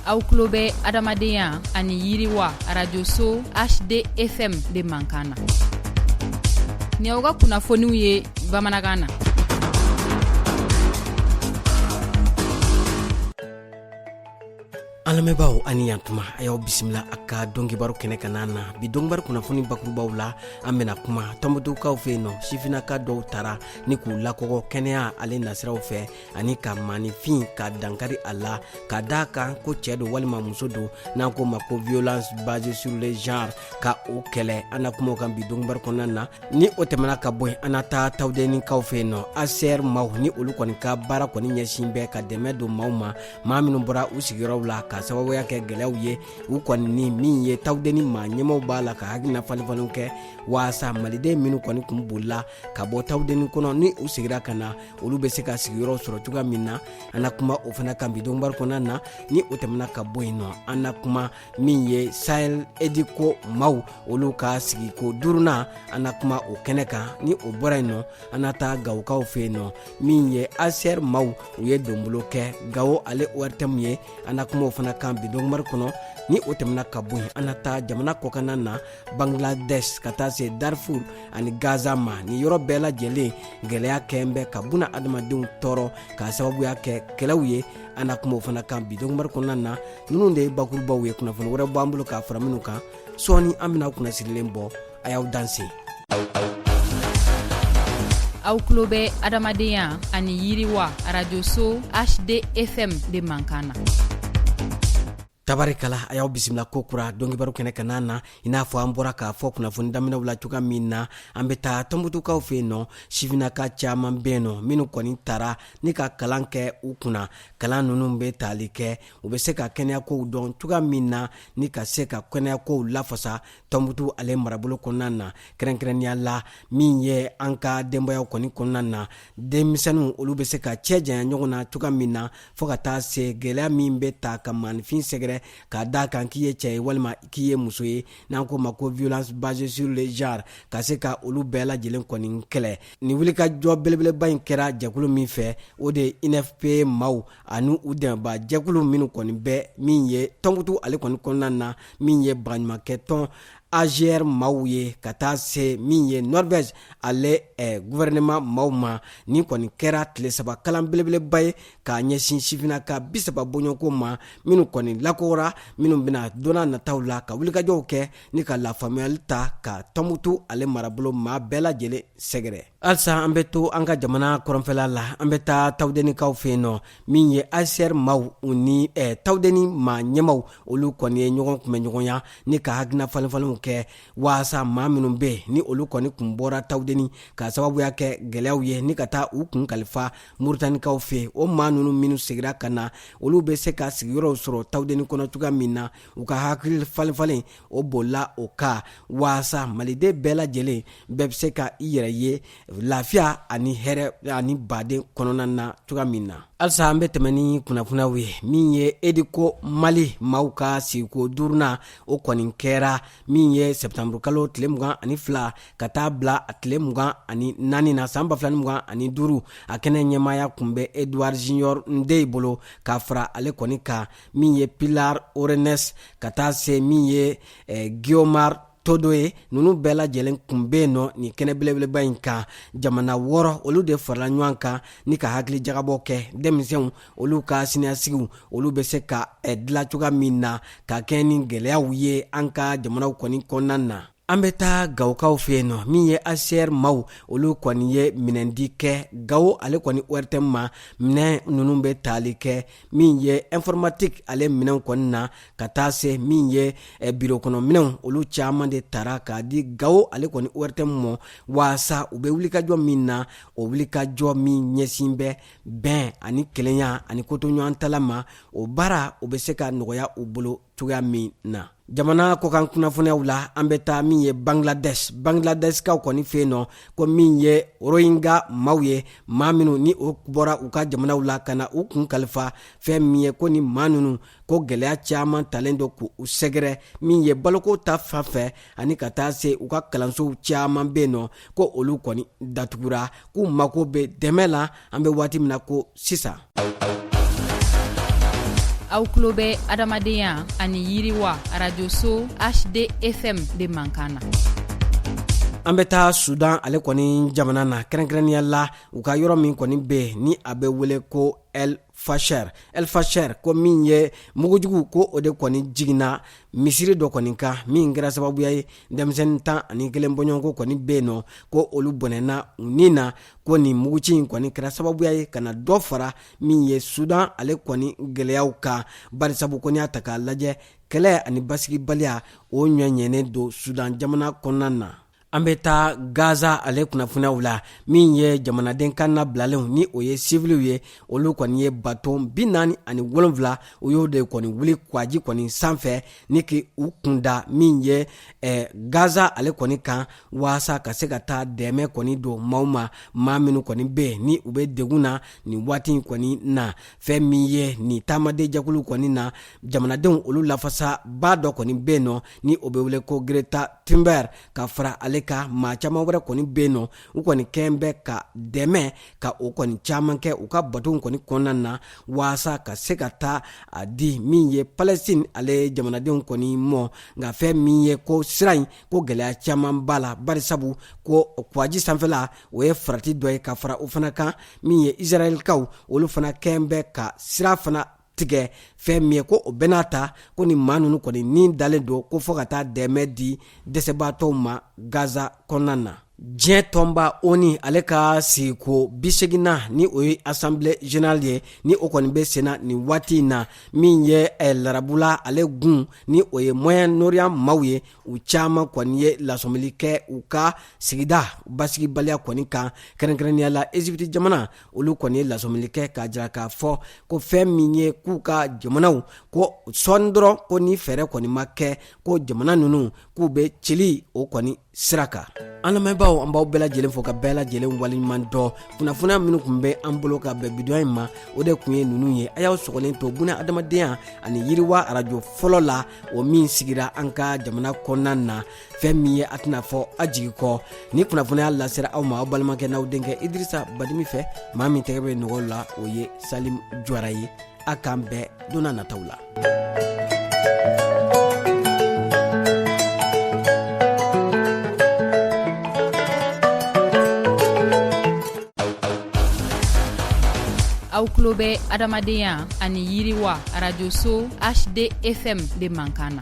aw tulo bɛ adamadenya ani yiriwa radioso hdfm de mankan na ni aw ka kunnafoniw ye bamanankan na an lamɛnbaaw a ni yantuma a y'aw bisimila a ka donkibaru kɛnɛ kanna na bi donkibaru kunnafoni bakurubaw la an bɛna kuma tɔnbutukaw fɛ yen nɔ sifinaka dɔw tara ni k'u lakɔgɔ kɛnɛya ale nasiraw fɛ ani ka maanifin ka dankari a la k'a da kan ko cɛ don walima muso don n'an ko ma ko violence basée sur le genre ka o kɛlɛ an na kuma o kan bi donkibaru kɔnɔna na ni o tɛmɛna ka bɔ yen an na taa tawudenikaw fɛ yen nɔ hcr maaw ni olu kɔni ka baara kɔni ɲɛsin bɛ ka dɛmɛ don maaw ma maa minnu bɔra u sigiyɔrɔw la k'a sababuya kɛ gɛlɛyaw ye u kɔni ni min ye tawudeni maa ɲɛmaaw b'a la ka hakilina falenfalenw kɛ waasa maliden minnu kɔni kun bolila ka bɔ tawudeni kɔnɔ ni u sigira ka na olu bɛ se ka sigiyɔrɔ sɔrɔ cogoya min na an na kuma o fana kan bi donkibaru kɔnɔna na ni o tɛmɛna ka bɔ yen nɔ an na kuma min ye sahel ediko maaw olu ka sigiko duurunan an na kuma o kɛnɛ kan ni o bɔra yen nɔ an na taa gawokaw fɛ yen nɔ min ye hcr maaw u ye donbolo kɛ gawo ale ortm ye an na kuma o fana kan bi donkibaru kɔnɔ ni o tɛmɛna ka bɔ yen an na taa jamana kɔkanna na bangladesh ka taa se darfur ani gaza ma nin yɔrɔ bɛɛ lajɛlen gɛlɛya kɔni bɛ ka buna adamadenw tɔɔrɔ k'a sababuya kɛ kɛlɛw ye an na kuma o fana kan bi donkibaru kɔnɔna na ninnu de ye bakurubaw ye kunnafoni wɛrɛ b'an bolo k'a fara minnu kan sɔɔni an bɛna kunnasirilen bɔ a y'aw danse aw tulo bɛ adamadenya ani yiriwa radioso hdfm de mankan na tabarikala a y'aw bisimila kokura donkibaru kɛnɛ kanna na i n'a fɔ an bɔra k'a fɔ kunnafoni daminɛw la cogoya min na an bɛ taa tɔnbutukaw fɛ yen nɔ sifinaka caman bɛ yen nɔ minnu kɔni tara ni ka kalan kɛ u kunna kalan ninnu bɛ tali kɛ u bɛ se ka kɛnɛyakow dɔn cogoya min na ni ka se ka kɛnɛyakow lafasa tɔnbutu ale marabolo kɔnɔna na kɛrɛnkɛrɛnnenya la min ye an ka denbayaw kɔni kɔnɔna na denmisɛnninw olu bɛ se ka cɛ janya ɲɔgɔn na cogoya min na fɔɔ ka taa se gɛlɛya min bɛ taa ka maanifin sɛgɛrɛ k'a da kan k'i ye cɛ ye walima k'i ye muso ye n'an ko ma ko violence basée sur le genre ka se ka olu bɛɛ lajɛlen kɔni kɛlɛ nin wulikajɔ belebeleba in kɛra jɛkulu min fɛ o de ye unfpa maaw ani u dɛmɛba jɛkulu minnu kɔni bɛ min ye tɔnbutu ale kɔni kɔnɔna na min ye baɲumankɛ tɔn agr maaw ye ka taa se min ye norvège ale eh, gouvernement maaw ma nin kɔni kɛra tile saba kalan belebeleba ye k'a ɲɛsin sifinaka bisaba bɔɲɔgɔnko ma minnu kɔni lakɔgɔra minnu bɛna donna nataw la ka wulikajɔw kɛ ni ka lafaamuyali ta ka tɔnbutu ale marabolo maa bɛɛ lajɛlen sɛgɛrɛ halisa an bɛ to an ka jamana kɔrɔnfɛla la an bɛ taa tawudenikaw fɛ yen nɔ min ye hcr maaw u ni eh, tawudeni maa ɲɛmaw olu kɔni ye ɲɔgɔn kunbɛn ɲɔgɔnya ni ka hakilina falenfalenw kɛ waasa maa minnu bɛ ni olu kɔni kun bɔra tawudeni ka sababuya kɛ gɛlɛyaw ye ni ka taa u kun kalifa muritanikaw fɛ o maa ninnu minnu segira ka na olu bɛ se ka sigiyɔrɔw sɔrɔ tawudeni kɔnɔ cogoya min na u ka hakili falenfalen o bolila o kan waasa maliden bɛɛ lajɛlen bɛɛ bɛ se ka i yɛrɛ ye lafiya ani hɛrɛ ani baden kɔnɔna na cogoya min na halisa an bɛ tɛmɛ ni kunnafoniyaw ye min ye educo mali maaw ka sigiko duurunan o kɔni kɛra min ye sɛptanburukalo tile mugan ani fila ka taa bila a tile mugan ani naani na san ba fila ni mugan ani duuru a kɛnɛ ɲɛmaaya kun bɛ edouard junior ndeye bolo ka fara ale kɔni kan min ye pilar orenes ka taa se min ye eh, guiomar todo ye ninnu bɛɛ lajɛlen kun be yen nɔ nin kɛnɛ belebeleba in kan jamana wɔɔrɔ olu de farala ɲɔgɔn kan ni ka hakili jagabɔ kɛ denmisɛnw olu ka siniɲɛsigiw olu be se ka eh, dila cogoya min na ka kɛɲɛ ni gɛlɛyaw ye an ka jamanaw kɔni kɔnɔna na an bɛ taa gawokaw fɛ yen nɔ min ye hcr maaw olu kɔni ye minɛndi kɛ gawo ale kɔni ortm ma minɛn ninnu bɛ taali kɛ min ye informatique ale minɛn kɔni na ka taa se min ye eh, biro kɔnɔ minɛnw olu caman de tara k'a di gawo ale kɔni ortm ma waasa u bɛ wulikajɔ min na o wulikajɔ min ɲɛsin bɛ bɛn ani kelenya ani kotoɲɔgɔntala ma o baara o bɛ se ka nɔgɔya u bolo cogoya min na jamana kɔkan kunnafoniyaw la an bɛ taa min ye bangladesh bangladeshkaw kɔni fɛ yen nɔ ko min ye rohingya maaw ye maa minnu ni o bɔra u ka jamanaw la ka na u kun kalifa fɛn min ye ko ni maa ninnu ko gɛlɛya caman talen don k'u sɛgɛrɛ min ye baloko ta fan fɛ ani ka taa se u ka kalansow caman bɛ yen nɔ ko olu kɔni datugura k'u mago bɛ dɛmɛ la an bɛ waati min na ko sisan aw tulo bɛ adamadenya ani yiriwa arajoso hdfm de mankan na an bɛ taa sudan ale kɔni jamana na kɛrɛnkɛrɛnnenya la u ka yɔrɔ min kɔni bɛ ni a bɛ wele ko el fasher ko min ye mugujugu ko o de kɔni jiginna misiri dɔ kɔni kan min kɛra sababuya ye denmisɛnnin tan ani kelen bɔɲɔgɔnko kɔni bɛ yen nɔ ko olu bɔnɛna u ni na ko nin muguci in kɔni kɛra sababuya ye ka na dɔ fara min ye sudan ale kɔni gɛlɛyaw kan barisabu ko n'i y'a ta k'a lajɛ kɛlɛ ani basigibaliya o ɲɔɲɛnen don sudan jamana kɔnɔna na an bɛ taa gaza ale kunnafoniyaw la min ye jamanaden kan na bilalenw ni o ye siviliw ye olu kɔni ye bato bi naani ani wolonfila u y'o de kɔni wuli kwaji kɔni sanfɛ ni k'u kun da min ye eh, gaza ale kɔni kan waasa ka se ka taa dɛmɛ kɔni don maaw ma maa minnu kɔni bɛ yen ni u bɛ degun na nin waati in kɔni na fɛn min ye nin taamadenjɛkulu kɔni na jamanadenw olu lafasa ba dɔ kɔni bɛ nɔ ni o bɛ wele ko greta thunberg ka fara ale kan maa caman wɛrɛ kɔni bɛ nɔ u kɔni kɛ bɛ ka dɛmɛ ka o kɔni caman kɛ u ka batow kɔni kɔnɔna na waasa ka se ka taa a di min ye palɛsitini ale jamanadenw kɔni mɔ nka fɛn min ye ko sira in ko gɛlɛya caman b'a la bari sabu ko kwaji sanfɛla o ye farati dɔ ye ka fara o fana kan min ye isirayɛlikaw olu fana kɛ bɛ ka sira fana tigɛ fɛn min ye ko o bɛɛ n'a ta ko ni maa ninnu kɔni ni dalen don ko fɔɔ ka taa dɛmɛ di dɛsɛbaatɔw ma gaza kɔnɔna na diɲɛ tɔnba oni ale ka sigiko biseginnan ni o ye asanble general ye ni o kɔni bɛ senna nin waati in na min ye eh, larabula ale gun ni o ye moyen oriyan maaw ye u caman kɔni ye lasɔmili kɛ u ka sigida basigibaliya kɔni kan kɛrɛnkɛrɛnnenya la ezipiti jamana olu kɔni ye lasɔmili kɛ k'a jira k'a fɔ ko fɛn min ye k'u ka jamanaw ko sɔɔni dɔrɔn ko ni fɛɛrɛ kɔni ma kɛ ko jamana ninnu k'u bɛ cili o kɔni sira kan an lamɛnbaaw an b'aw bɛɛ lajɛlen fo k'aw bɛɛ lajɛlen waleɲuman dɔn kunnafoniya minnu tun bɛ an bolo ka bɛn bi don in ma o de tun ye ninnu ye a y'aw sɔgɔlen to buna adamadenya ani yiriwa arajo fɔlɔ la o min sigira an ka jamana kɔnɔna na fɛn min ye a tɛna fɔ a jigi kɔ nin kunnafoniya lasera aw ma aw balimakɛ n'aw denkɛ idirisa badimi fɛ maa min tɛgɛ bɛ nɔgɔ la o ye salim jwara ye a k'an bɛn don nataw la aw tulo bɛ adamadenya ani yiriwa arajoso hdfm de mankan na